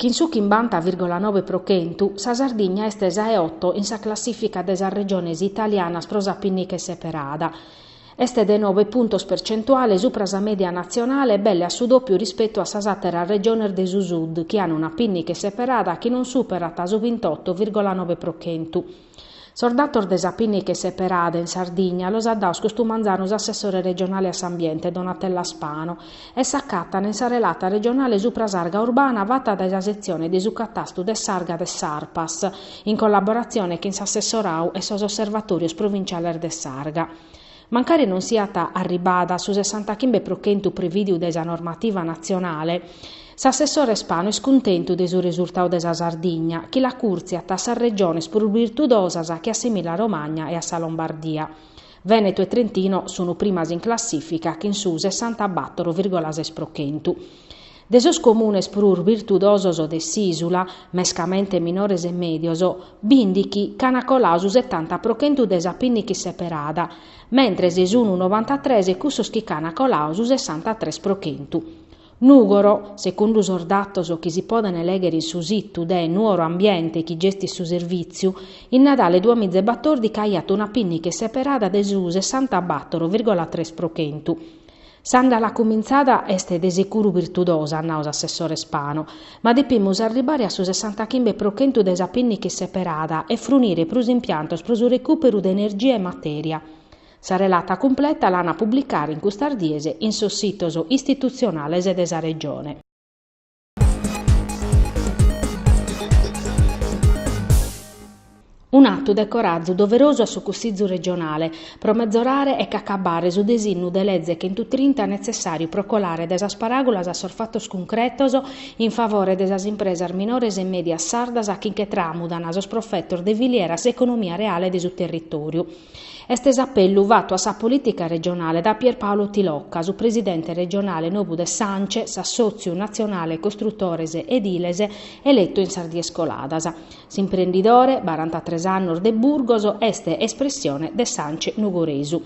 Chin su chimbanta virgola nobe pro chentu, sa Sardigna est sa 'e oto in sa classìfica de sas regiones italianas pro sa pinniche seperada. Est de nove puntos percentuales supra sa mèdia natzionale e belle a su dòpiu rispetu a sas àteras regiones de su Sud chi an una pinniche seperada chi non superat su bintoto virgola nobe pro chentu. Sos datos de sa pinniche seperada in Sardigna los at daos custu manzanu s'assessore regionale a s'ambiente Donatella Spano e s'acatant in sa relata regionale supra s'arga urbana fata dae sa setzione de su catastu de s'arga de s'Arpas in collaboratzione chin s'assessorau e sos osservatòrios provinciales de s'arga. Mancari non siat arribada a su sessantachimbe pro chentu prevìdiu dae sa normativa natzionale, s'assessore Spano est cuntentu de su resurtadu de sa Sardigna, chi l'acùrtziat a sas regiones prus birtudosas che a s'Emìlia Romagna e a sa Lombardia. Vènetu e Trentino sunt primas in classìfica chin su sessantabàtoro virgola ses pro chentu. De sos comunes prus virtudosos de s'ìsula, mescamente minores e mèdios, bìndichi ch'ant coladu su setanta pro chentu de sa pinniche seperada, mentres sun novantatres cussos chi ch'ant coladu su sessantatres pro chentu. Nùgoro, segundu sos datos chi si podent lèghere in su situ de Nuoro Ambiente chi gestit su servìtziu, in Nadale duas miza e batòrdica aiat una pinniche seperada de su sessanta-battoro virgola tres pro chentu. S'andala cumintzada est de seguru virtudosa, at nau s'assessore Spano, ma depimus arribare a su sessantachimbe pro chentu de sa pinniche seperada e frunire prus impiantos pro su recùperu de energia e matèria. Sa relata cumpleta l'an a publicare in custas dies in sos sitos istitutzionales de sa Regione. Un'atu de corazu doverosu a su Cussizu regionale, pro metzorare e acabbare su desinnu de leze chentutrinta netzessàriu pro colare de sas paràgulas a sos fatos cuncretos in favore de sas impresas minores e mèdias sardas chi nche tràmudan sos profetos de filiera a s'economia reale de su territòriu. Est s'apellu fatu a sa polìtica regionale da Pierpaolo Tilocca, su presidente regionale nobu de s'Ance, s'assòtziu natzionale costrutores ediles eletu in sas dies coladas. S'imprendidore, barantatres annos de Burgos, est espressione de s'Ance nugoresu.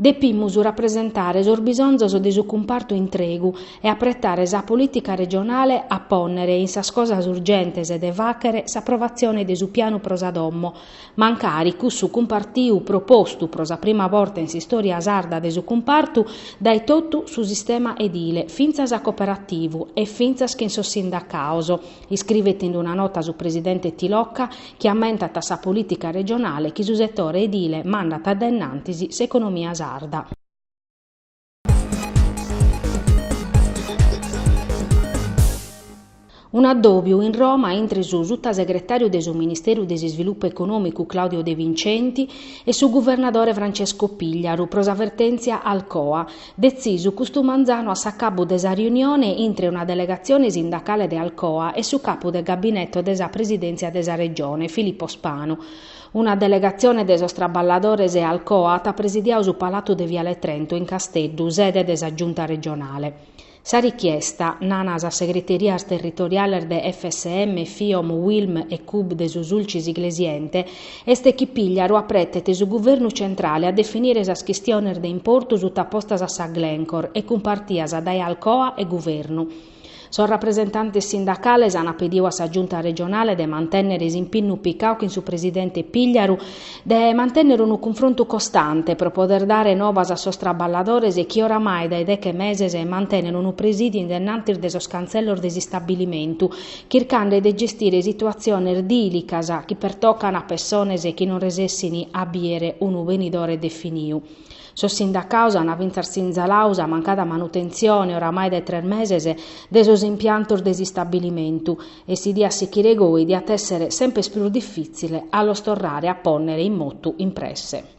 Depimus rapresentare sos bisonzos de su cumpartu intregu e apretare sa polìtica regionale a pònnere in sas cosas urgentes de fàghere s'aprovatzione de su pianu pro sa domo, Mancari cussu cumpartiu propostu pro sa prima borta in s'istòria sarda de su cumpartu dae totu su sistema edile fintzas a cooperativu e fintzas chin sos sindacaos, iscrivet in una nota su presidente Tilocca chi ammentat a sa polìtica regionale chi su setore edile mandat a dae innantis s'economia sarda. Un'addòbiu in Roma intre su sutasegretàriu de su Ministèriu de s'Isvilupu Econòmicu Claudio De Vincenti e su guvernadore Francesco Pigliaru pro sa vertèntzia Alcoa, detzisu custu manzanu a s'acabbu de sa riunione intre una delegatzione sindacale de Alcoa e su capu de gabineto de sa Presidèntzia de sa Regione, Filippo Spanu. Una delegatzione de sos traballadores 'e Alcoa at presidiau su Palatu de Viale Trento in Casteddu, sede de sa Giunta regionale. Sa richiesta, nana sas segreterias territoriales de FSM, Fiom, Uilm e Cub de su Sulcis Iglesiente, est chi Pigliaru apretet su Guvernu centrale a definire sas chistiones de importu sutapostas a sa Glencore e cumpartias dae Alcoa e Guvernu. Sos rapresentantes sindacales ant pediu a sa Giunta regionale de mantènnere s'impinnu picau chin su presidente Pigliaru de mantènnere unu cunfrontu costante pro poder dare novas a sos traballadores chi oramai dae deche meses mantènene unu presìdiu in dennantis de sos cantzellos de s'istabilimentu chircande de gestire situatziones dìlicas chi pertocan a pessones chi non resessint a bìere unu benidore definiu. Sos sindacaus ant fintzas sinzalau sa mancada manutentzione, oramai dae tres meses, de sos impiantos de s'istabilimentu e si diat sichire goi diat èssere semper prus difìtzile a los torrare a pònnere in motu in presse.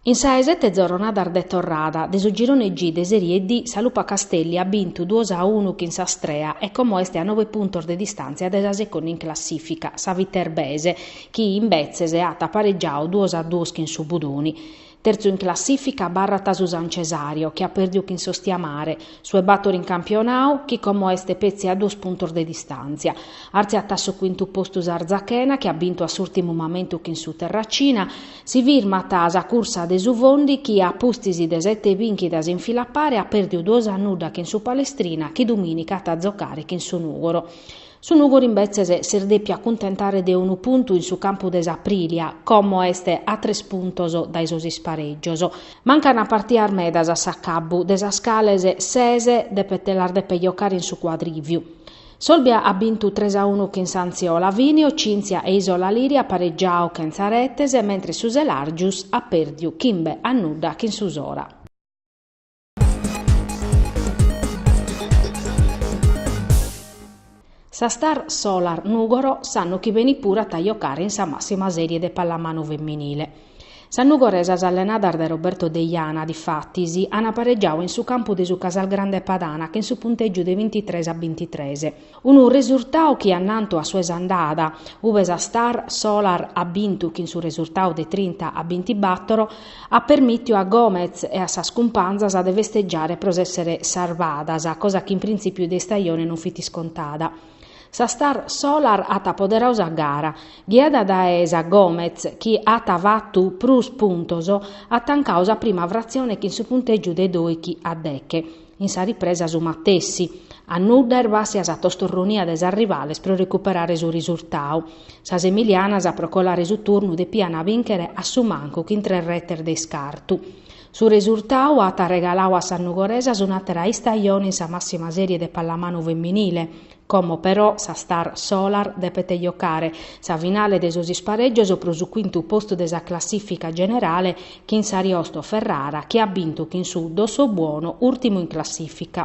In sa 'e sete zorronadas de torrada de su Girone G de Serie D sa Lupa Castelli at bintu duos a unu chin s'Astrea e como est a nobe puntos de distàntzia de sa seconda in classìfica, sa Viterbese, chi imbetzes at paregiau duos a duos chin su Budoni. Terzu in classìfica abarrat su San Cesareo, chi at pèrdiu chin s'Ostiamare, su 'e bator in campionau, chi como est petzi a duos puntos de distàntzia. Artziat a su quintu postu s'Arzachena, chi at bintu a s'ùrtimu mamentu chin su Terracina, Si firmat sa cursa de su Fondi chi a pustis de sete bìnchidas in fila a pare at pèrdiu duos a nudda chin su Palestrina chi dumìnica at a zocare chin su Nùgoro. Su Nùgoro imbetzes s'est dèpiu acuntentare de unu puntu in su campu de s'Aprilia, como est a tres puntos dae sos isparègios. Mancant partias medas a s'acabbu, de sas cales ses depet las depet jocare in su Cuadrìviu. S'Olbia at bintu tres a unu chin s'Anziolavinio, Cynthia e Isola Liri at pareggiau chentza retes, mentres su Selargius at pèrdiu chimbe a nudda chin su Sora. Sa Star Solar Nùgoro s'annu chi benit puru at a jocare in sa massima serie de pallamanu feminile. Sas nugoresas allenadas dae Roberto Deiana, difatis, an paregiadu in su campu de su Casalgrande Padana chin su puntègiu de bintitres a bintitres. Unu resurtadu chi annantu a su 'e s'andada, ube sa Star Solar at bintu chin su resurtadu de trinta a bintibattoro, at permìtiu a Gomez e a sas cumpanzas de festegiare pro s'èssere sarvadas, cosa chi in printzìpiu de istajone non fit iscontada. Sa Star Solar at apoderadu sa gara, ghiada dae sa Gomez chi at fatu prus puntos, at tancadu sa prima fratzione chin su puntègiu de dòichi a deche, in sa ripresa su matessi, a nudda est bàssia sa tostorronia de sas rivales pro recuperare su risurtadu. Sas emilianas pro colare su turnu depian bìnchere a su mancu chin tres retes de iscartu. Su resurtau at arregalau a sas nugoresas un'àtera istajone in sa màssima sèrie de pallamanu feminile, como però sa star Solar depet jocare sa finale de sos isparègios pro su quintu postu de sa classìfica generale chin s'Ariosto Ferrara chi at bintu chin su Dossobuono, ùrtimu in classìfica.